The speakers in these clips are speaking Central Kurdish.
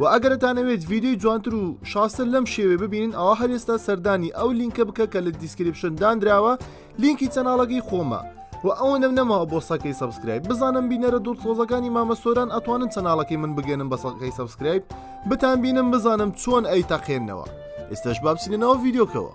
وە ئەگەر دەتانەوێت ڤیدیۆی جوانتر و شازتر لەم شێوێ ببینن ئەوا هەر ئێستا سەردانی ئەو لینکە بکە کە لە دیسکریپشن دانراوە لینکی چەناڵەکەی خۆمە و ئەوەنەم نەماوە بۆ سەکەی سەبسکرایب بزانم بینەرە دوور تۆزەکانی مامە سۆران ئەتوانن چەناڵەکەی من بگەنم بە سەکەی سەبسکرایب بتان بینم بزانم چۆن ئەی تەقێنەوە ئێستش بابچینەوە ڤیددیوکەوە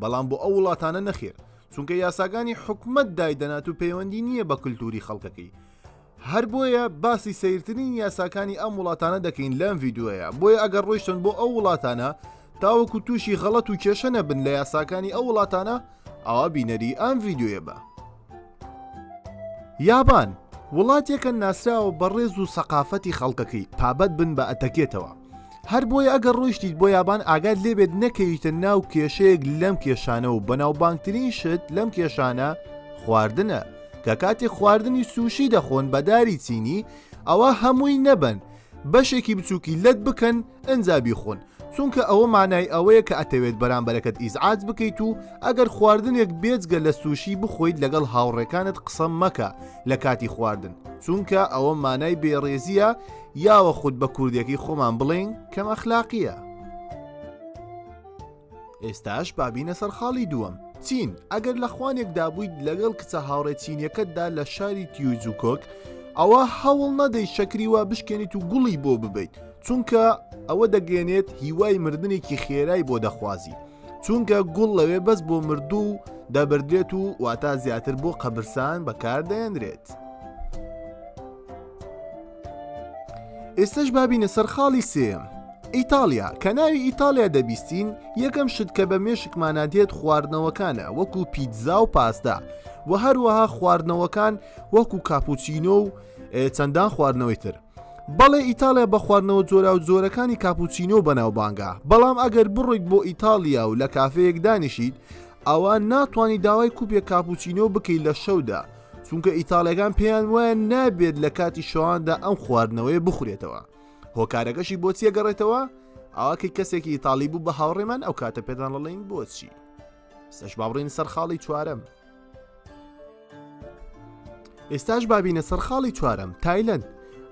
بەڵام بۆ ئەو وڵاتانە نەخێر چونکە یاساگانی حکومت دایدەنات و پەیوەندی نییە بە کللتوری خەڵکەکەی هەر بۆیە باسی سیرترین یاساکانی ئەم وڵاتانە دەکەین لەم یددیوەیە بۆیە ئەگەر ڕۆیشتن بۆ ئەو وڵاتانە تاوەکو تووشی غەڵەت و کێشە نەبن لە یاساکانی ئەو وڵاتانە ئاوا بینەری ئەم یددیوە بە یابان وڵاتێکە ناسراوە بە ڕێز و سەقافەتی خەڵکەکەی پابەت بن بە ئەتەکێتەوە هەر بۆیە ئەگەر ڕۆیشتیت بۆ یابان ئاگات لێبێت نەکەویتە ناو کێشەیەک لەم کێشانە و بەناوبانگترین شت لەم کێشانە خواردنە کە کاتێک خواردنی سوشی دەخۆن بەداری چینی ئەوە هەمووی نەبن بەشێکی بچووکی لەت بکەن ئەجا بیخۆن چونکە ئەوە مانای ئەوەیە کە ئەتەوێت بەرامبەرەکەت ئیزعاج بکەیت و ئەگەر خواردنێک بێجگە لە سوشی بخۆیت لەگەڵ هاوڕێکانت قسە مەکە لە کاتی خواردن چونکە ئەوە مانای بێڕێزیە یاوەخود بە کوردێکی خۆمان بڵێین کەم ئەخلاقیە. ئێستاش بابینە سەر خاڵی دووەم چین ئەگەر لە خوانێکدا بوویت لەگەڵ کچە هاوڕێ چینیەکەتدا لە شاری تیوجوکۆک ئەوە هەوڵ نەدەی شەکری وا بشکێنیت و گوڵی بۆ ببیت چونکە ئەوە دەگەێنێت هیوای مردنێکی خێرای بۆ دەخوازی چونکە گوڵ لەوێ بەس بۆ مردوو و دەبدرێت و واتا زیاتر بۆ قەبرسان بەکار دەێنرێت. ئێستش بابینە سەر خاڵی سێم ئیتالیا کە ناوی ئیتالیا دەبیستین یەکەم شت کە بە مێشکمانە دێت خواردنەوەکانە وەکو پیتزا و پاستا و هەروەها خواردنەوەکان وەکو کاپوچینۆ و چەندان خواردنەوەی تر بەڵێ ئیتالیا بە خواردنەوە جۆرا و جۆرەکانی کاپوچینۆ بەناوبانگە بەڵام ئەگەر بڕۆیت بۆ ئیتالیا و لە کافەیەک دانیشیت ئەوە ناتوانانی داوای کوپێک کاپوچینۆ بکەیت لە شەودا چونکە ئیتاڵیەکان پێیان وایە نابێت لە کاتی شەواندا ئەم خواردنەوەی بخورێتەوە هۆکارەکەشی بۆ چیە گەڕێتەوە ئاکەی کەسێکی ئیتاالی بوو بە هاوڕێمان ئەو کاتە پێدان لەڵین بۆچی سەش باڕین سەر خاڵی چوارم ئێستاش بابینە سەر خاڵی چوارم تایلند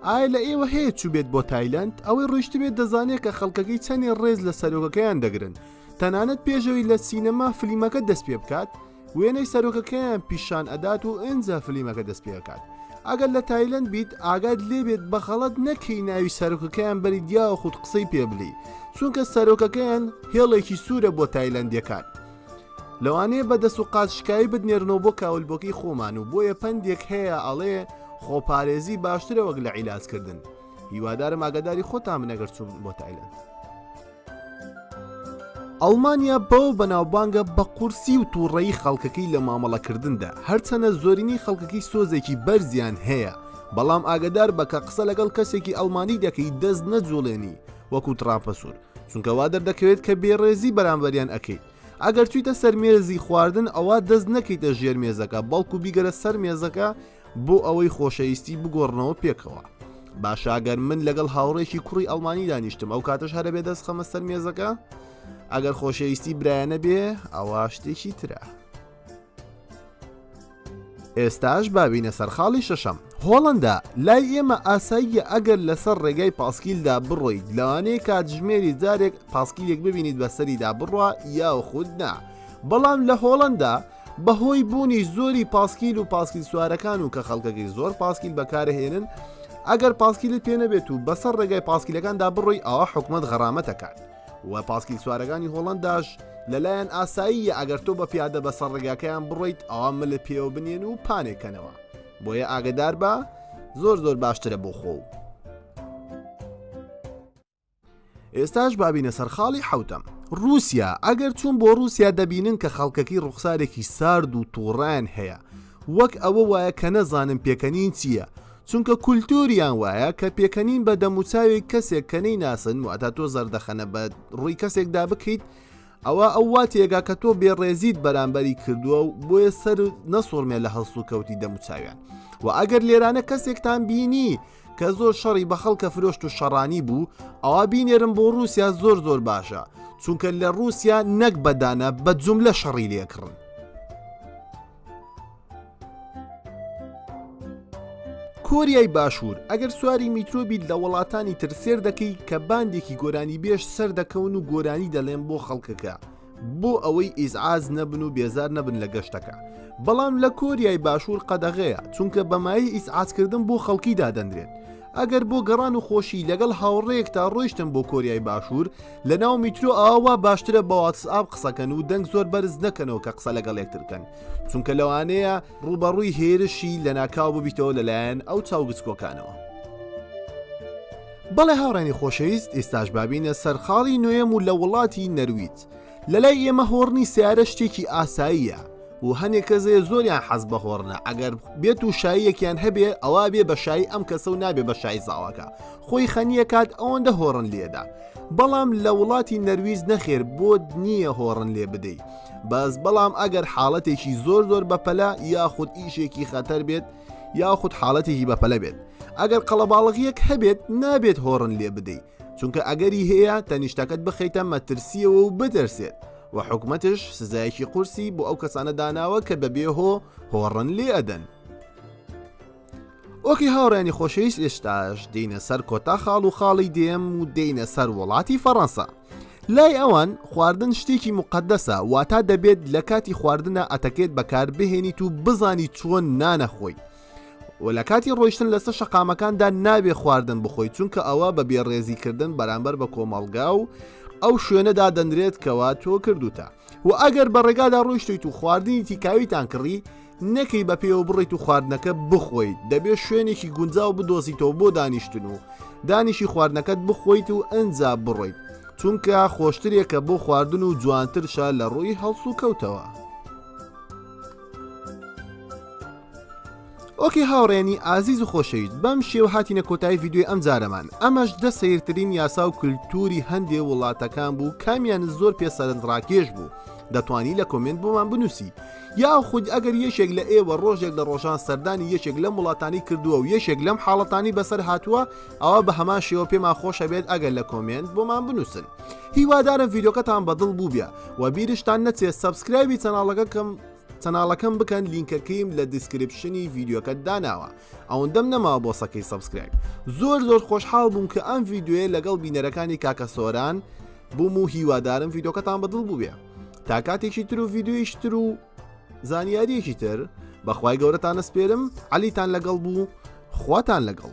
ئایا لە ئێوە هەیە چوو بێت بۆ تایلند ئەوەی ڕۆشت بێت دەزانێت کە خەڵکەکەی چەندێ ڕێز لە سەرۆکەکەیان دەگرن تەنانەت پێشەوەی لە سینەما فلیمەکە دەست پێ بکات وێنەی سەرۆکەکەیان پیشان ئەدات و ئنجا فلیمەکە دەست پێکات ئەگەر لە تایلند بیت ئاگات لێبێت بە خەڵەت نەکەی ناوی سەرۆکەکەیان بەری دیاوە خودت قسەی پێ بلی چونکە سەرۆکەکەیان هێڵێکی سوورە بۆ تایلندەکان لەوانەیە بە دەست و قاچشکایی بتنێرنەوە بۆ کاولبۆکەی خۆمان و بۆیە پندێک هەیە ئەڵێ خۆپارێزی باشترە وەک لە عیلاجکردن هیوادارم ئاگاداری خۆتان بنەگەر چوون بۆ تایلند ئەڵمانیا بەوە بەناوبانگە بە قورسی و تووڕەیی خەڵکەکەی لە مامەڵەکردندا هەرچەنە زۆرینەی خەڵکەکەی سۆزێکی بەرزیان هەیە بەڵام ئاگدار بەکە قسە لەگەڵ کەسێکی ئەڵمانی دەکەی دەست نەجوڵێنی وەکو تراپە سوور چونکە وا دەردەکەوێت کە بێڕێزی بەرامبەریان ئەەکەیت ئەگەر چیتە سەرمێزی خواردن ئەوە دەست نەکەیتە ژێر مێزەکە بەڵکو بیگەرە سەر مێزەکە بۆ ئەوەی خۆشەویستی بگۆڕنەوە پێکەوە. باشاگەر من لەگەڵ هاوڕێکی کوڕی ئەڵمانی دانیشتم ئەو کاتەش هەرە بێ دەست خەمە سەر مێزەکە ئەگەر خۆشەویستی برایەنە بێ ئەوە شتێکی ترە. ئێستاش بابینە سەرخاڵی شەشەم هۆڵندا لای ئێمە ئاساییە ئەگەر لەسەر ڕێگای پاسکیلدا بڕۆیت لەوانەیە کاتژمێری جارێک پاسکیلێک ببینیت بەسەریدا بڕە یاخود نا بەڵام لە هۆڵندا بەهۆی بوونی زۆری پاسکیل و پاسکیل سوارەکان و کە خەڵکەکەی زۆر پاسکیل بەکارهێنن ئەگەر پاسکیلت پێ نەبێت و بەسەر ڕێگای پاسکیلەکاندا بڕۆی ئاوا حکومت غەرامەتەکان و پاسکیل سوارەکانی هۆڵنداش لەلایەن ئاساییە ئەگەر تۆ بە پیادە بەسەر ڕێگاکەیان بڕۆیت ئاوا ملە پێوە بنێن و پانێکەنەوە بۆیە ئاگدار بە زۆر زۆر باشترە بۆ خۆ و ئێستاش بابینە سەر خاڵی حوتەم رووسیا ئەگەر چوون بۆ رووسیا دەبینن کە خەڵکەکەی ڕوخسارێکی سارد و تووڕان هەیە وەک ئەوە وایە کە نەزانن پێکەنین چییە چونکە کولتوریان وایە کە پێکەنین بە دەموچاوی کەسێک کەنەی ناسن و ئەتا تۆ زەردەخەنە بە ڕووی کەسێکدا بکەیت ئەوە ئەو واتێگا کە تۆ بێڕێزیت بەرامبەری کردووە و بۆیە سەر نەسوڕمێ لە هەڵسو کەوتی دەموچاویان و ئەگەر لێرانە کەسێکتان بینی کە زۆر شەڕی بە خەڵکە فرۆشت و شەڕانی بوو ئەوا بینێرم بۆ رووسیا زۆر زۆر باشە چونکە لە رووسیا نەک بەدانە بە جوم لە شەڕی لێکڕن کۆریای باشوور ئەگەر سواری میترۆبیت لە وڵاتانی تر سێر دەکەی کە باندێکی گۆرانی بێژ سەر دەکەون و گۆرانی دەڵێن بۆ خەڵکەکە بۆ ئەوەی ئیزعاج نەبن و بێزار نەبن لە گەشتەکە بەڵام لە کۆریای باشوور قەدەغەیە چونکە بەمایی ئیسعاتکردن بۆ خەڵکی دادەنرێت ئەگەر بۆ گەڕان و خۆشی لەگەڵ هاوڕێک تا ڕۆیشتن بۆ کۆریای باشوور لە ناو میترۆ ئاوا باشترە بە واتسئاب قسەکەن و دەنگ زۆر بەرز نەکەنەوە کە قسە لەگەڵ یەکترکەن چونکە لەوانەیە ڕوبەڕووی هێرشی لە ناکاو ببیتەوە لەلایەن ئەو چاوگچکۆکانەوە. بەڵێ هاوڕێنی خۆشەویست ئیستاش بابینە سەرخاڵی نوێم و لە وڵاتی نەرویت لە لای ئێمە هۆڕنی سیارە شتێکی ئاساییە و هەنێک کەزێ زۆریان حەز بە هۆڕنە ئەگەر بێت و شاییەکیان هەبێ ئەوە بێ بە شایی ئەم کەسە و نابێ بە شای زاواکە خۆی خەنیە کات ئەوەندە هۆڕن لێدا بەڵام لە وڵاتی نەرویز نەخێر بۆت نییە هۆڕن لێ بدەیت بەس بەڵام ئەگەر حاڵەتێکی زۆر زۆر بەپەلا یاخود ئیشێکی خەتەر بێت یاخود حاڵەتێکی بەپەلە بێت ئەگەر قەڵەباڵغیەک هەبێت نابێت هۆڕن لێ بدەیت چونکە ئەگەری هەیە تەنیشتەکەت بخیتە مەترسیەوە و بدەرسێت و حکومەتش سزایەکی قورسی بۆ ئەو کەسانە داناوە کە بەبێ هۆ هۆڕن لێ ئەدەن ئۆکی هاوڕێنی خۆشەویست ئێستاش دینە سەر کۆتا خاڵ و خاڵی دێم و دینە سەر وڵاتی فەڕەنسا لای ئەوان خواردن شتێکی مقدەسە واتا دەبێت لە کاتی خواردنە ئەتەکێت بەکار بهێنیت و بزانی چۆن نانەخۆی و لە کاتی ڕۆیشتن لەسەر شەقامەکاندا نابێ خواردن بخۆی چونکە ئەوە بە بێڕێزیکردن بەرامبەر بە کۆمەڵگا و ئەو شوێنەدا دەنرێت کەوا تۆ کردوتە و ئەگەر بە ڕێگادا ڕۆیشتیت و خواردنی تیکاویتان کڕی نەکەی بە پێوە بڕیت و خواردنەکە بخۆیت دەبێت شوێنێکی گونجاو بدۆزیتەوە بۆ دانیشتن و دانیشی خواردنەکەت بخۆیت و ئەنجا بڕۆیت چونکە خۆشترێکە بۆ خواردن و جوانترشە لە ڕووی هەڵس و کەوتەوە. ئۆکی هاوڕێنی ئازیز و خۆشەویست بەم شێو هاتینە کۆتای یددیوی ئەم جارەمان ئەمەش دە سیرترین یاسا و کللتوری هەندێ وڵاتەکان بوو کامیان زۆر پێ سەرنجڕاکێش بوو دەتوانی لە کۆمنت بۆمان بنووسی یاخود ئەگەر یەکێک لە ئێوە ڕۆژێک لە ڕۆژان سەردانی یەکێک لەم وڵاتانی کردووە و یەکێک لەم حاڵەتانی بەسەر هاتووە ئەوە بە هەمان شێوە پێمان خۆشە بێت ئەگەر لە کۆمێنت بۆمان بنووسن هیوادارم ڤیدۆکەتان بەدڵ بووبە و بیرشتان نەچێت سەبسکرایبی چەناڵەکەکەم چەناڵەکەم بکەن لینکەکەیم لە دیسکرپشنی ڤیددیوکە داناوە ئەوەندەم نەما بۆ سەکەی سبسکرایب زۆر زۆر خۆشحاڵ بووم کە ئەم ڤیددیوێ لەگەڵ بینەرەکانی کاکە سۆران بووم و هیوادارم ڤیددیوکەتان بەدڵ بووێ تا کاتێکی تر و ڤیددیویش تر و زانیاریەکی تر بەخوای گەورەتانە سپێرم علیتان لەگەڵ بوو خواتان لەگەڵ